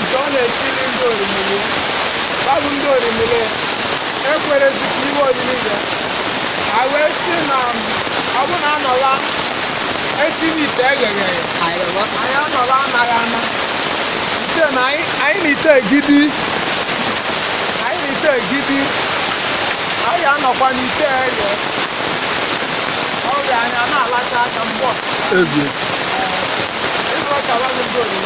nke ọ na-esiri ndị orimiri ba bụ ndị orimiri ekwerezi ka iwe oriri ya ha wee sị na ọ bụ na anọla esi n'ite eghere ya anyị anọla anaghị ana ite na anyị na ite egidi anyị anọkwa n'ite eghe ọ ga anyị ana-alacha aka mgbọ ezie ịzụ ọka wa bụ ndị oriri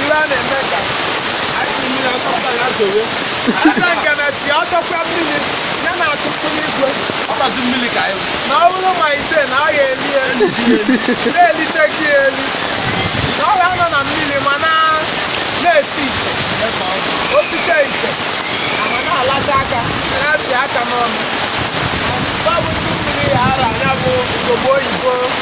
ihe a na-eme ka anyị ji mmiri asọpụta ya zowe ada nke na-esi ọsọkwa mmiri ya na-atụtụ n'igwe ọkpọzi mmiri ka anyị na ọ bụrụ ma ite na ọ ga-eli eli na-elite gị eli na ọ ga-anọ na mmiri ma na na-esi ite osite ite ma na-alacha aka na-esi aka n'ọnụ ba bụ ndị mmiri ya ara anya bụ ugogbe oyibo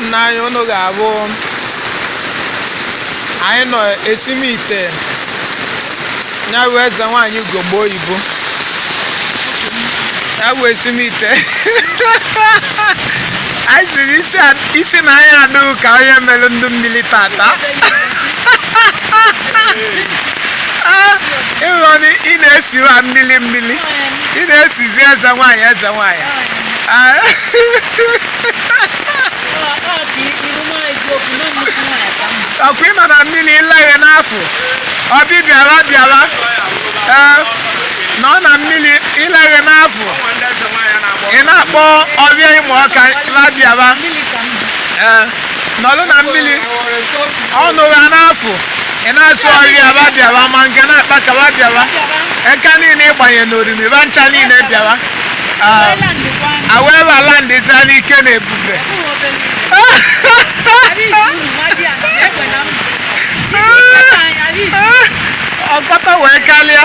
nna anyị unu ga-abụ anyị nọ esimite ya bụ eze nwaanyị ugogbe oyibo ya bụ esimite anyị siri isi na anyị adịghị ka onye mere ndị mmiri tata ịghọ na ị na-esi wa mmiri mmiri ị na-esizi eze nwaanyị eze nwaanyị Ah, ọkwa ịma na mmiri ịlaghị n'afọ ọbịbịa wa bịawa ee nọ na mmiri ịlaghị n'afọ ị na-akpọ ọfịa Imọka wa bịawa ee nọlụ na mmiri ọnụ gha n'afọ ị na-asụ ọfịa wa bịawa ma Ngene akpaka wa bịawa eka niile ịgbanye n'orimi ba ncha niile bịawa Ah, awee bala ndị taa n'ike na ebube ọ kata wee kalịa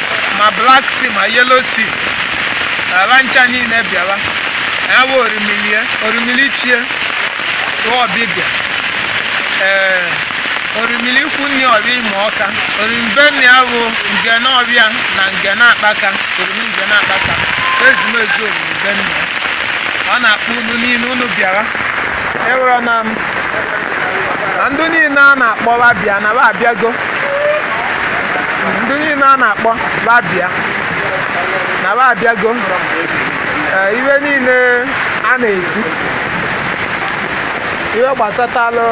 ma black sea ma yellow sea wa ncha niile bịawa ya bụ orimili orimili chie tụọ ọbịbịa ee orimili ikwu nne ọfịa Imọka orimi be nne ya bụ Ngene ọfịa na Ngene akpaka orimi Ngene akpaka ezumezu orimi be nne ya. ọ na-akpọ unu niile unu bịawa ewere na m na ndị niile a na-akpọ wa bịa na ba abịago ndị niile a na-akpọ wa bịa na wa abịago Ee, ihe niile a na-esi ihe gbasatalụ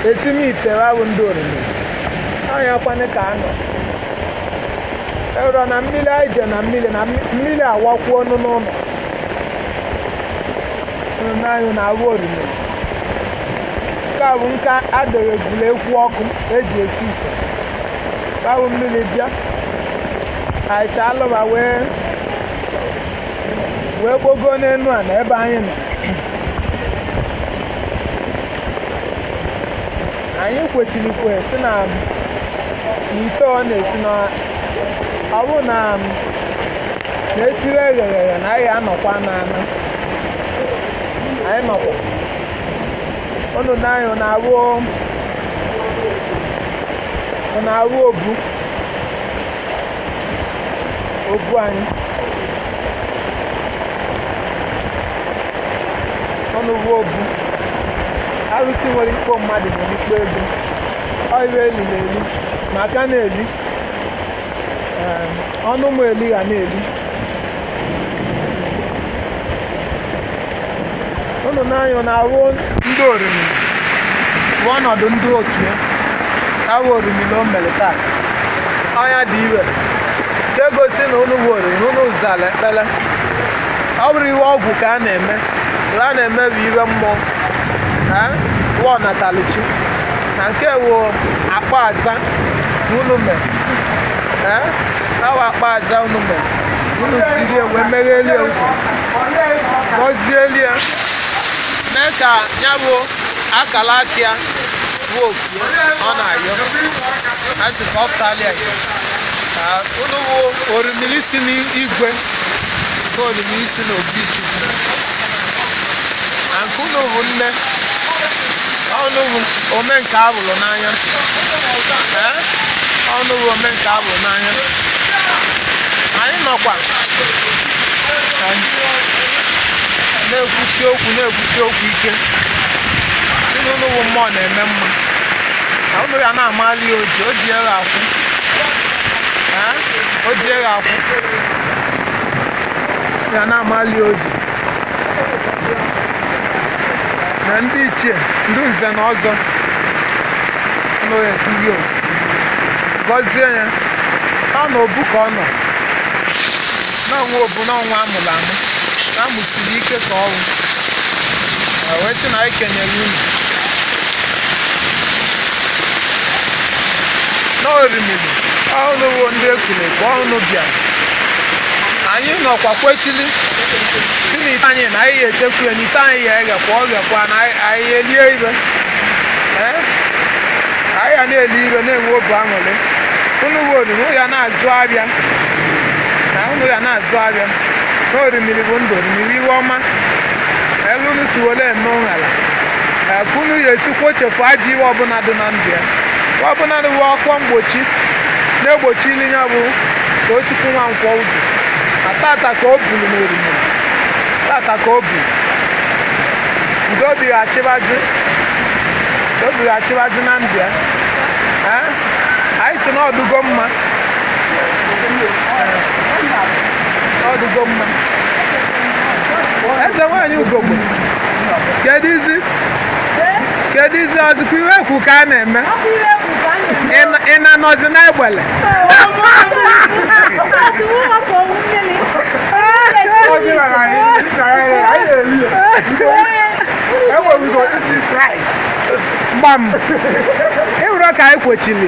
esim ite wa bụ ndị orimiri onye kwanị ka anọ ero na mmiri anyị je na mmiri na mmi- mmiri awakwuo ọnụ n'ụlọ nna anyị na-awụ orimiri nke a bụ nka adịghị ebule ekwu ọkụ eji esi ite ka wụ mmiri bịa aịcha alụba wee kpogo n'elu ana ebe anyị nọ anyị kwechirikwe si na ite ọ na-esi na ọ bụ na na-etiri eghereghe na anyị anọkwa n'ana anyị nọkwa unu na-anya ọ na-awụ ọ na-awụ obu obu anyị unu wụ obu arụsị nwere ikpo mmadụ nwere ikpo ego ọ ihe eli na eli maka na-eli em, ọnụ m eli ga na-eli unu n'anya na awụ ndị orimiri bụ ọnọdụ ndị otu ya awụ orimiri na o mere taa ọ nya dị ihe na-egosi na unu wụ orimiri na unu zara ekpere ọ bụrọ ihe ọgwụ ka a na-eme a na-eme bụ ihe mmụọ wụ ọnatalichi na nke wụ akpọ aza na unu mere awụ akpọ aza unu mere unu tiri wee meghelie ụzọ gọzielie mee ka ya bụ akala aka ya bụ oku ya ọ na-ayọ a sị ka ọ pụtalịa ya unu bụ orimiri si n'igwe ka orimiri si n'obi chukwu na nke unu bụ nne unu bụ ome nke ahụrụ n'anya ee unu bụ ome nke ahụrụ n'anya anyị nọkwa na-ekwusi okwu na-ekwusi okwu ike sị na unu wụ mmụọ na-eme mma na unu ya na-amali ya oji oji ya ga-akwụ Ee, oji ya ga-akwụ ya na-amali ya oji na ndị ichie ndị nze na ọzọ nọ ya etinye oku gọzie ya ọ na obu ka ọ nọ na ọnwa ọ bụ na ọnwa amụrụ amụ na amụsiri ike ka anwụ Ma wee sị na anyị kenyere unu na orimiri unu wụ ndị ekele ka unu bịara anyị nọkwa kwechili si na ite anyị na anyị echekwu ya na ite anyị ya eghekwa ọ ghekwa na anyị- anyị elie ife Ee? anyị ya na-eli ife na-enwe obi aṅụrị unu wụ oriri ya na-azụ abịa ka unu ga na-azụ ahịa na orimiri bụ ndụ orimiri ife ọma elu unu si were eme ụṅara ee, ka unu ya esi kwọchafụ ajọ ife ọbụla dị na ndụ ya Ife ọbụla dị uwe ọkwa mgbochi na-egbochi ili ya bụ Tochukwu Nwankwọ ọ bụ na tata ka o buru na orimiri tata ka o buru udo bighachịbazi udo bighachịbazi na ndụ ya Ee, anyị si na ọ dụgo mma ọ dụgo mma eze nwaanyị ugogbe keduzi keduzi o zukwa ife e kwu ka a na-eme Ị- ị na-anọzi n'egbele gbam ịwụrụ ka anyị kwochiri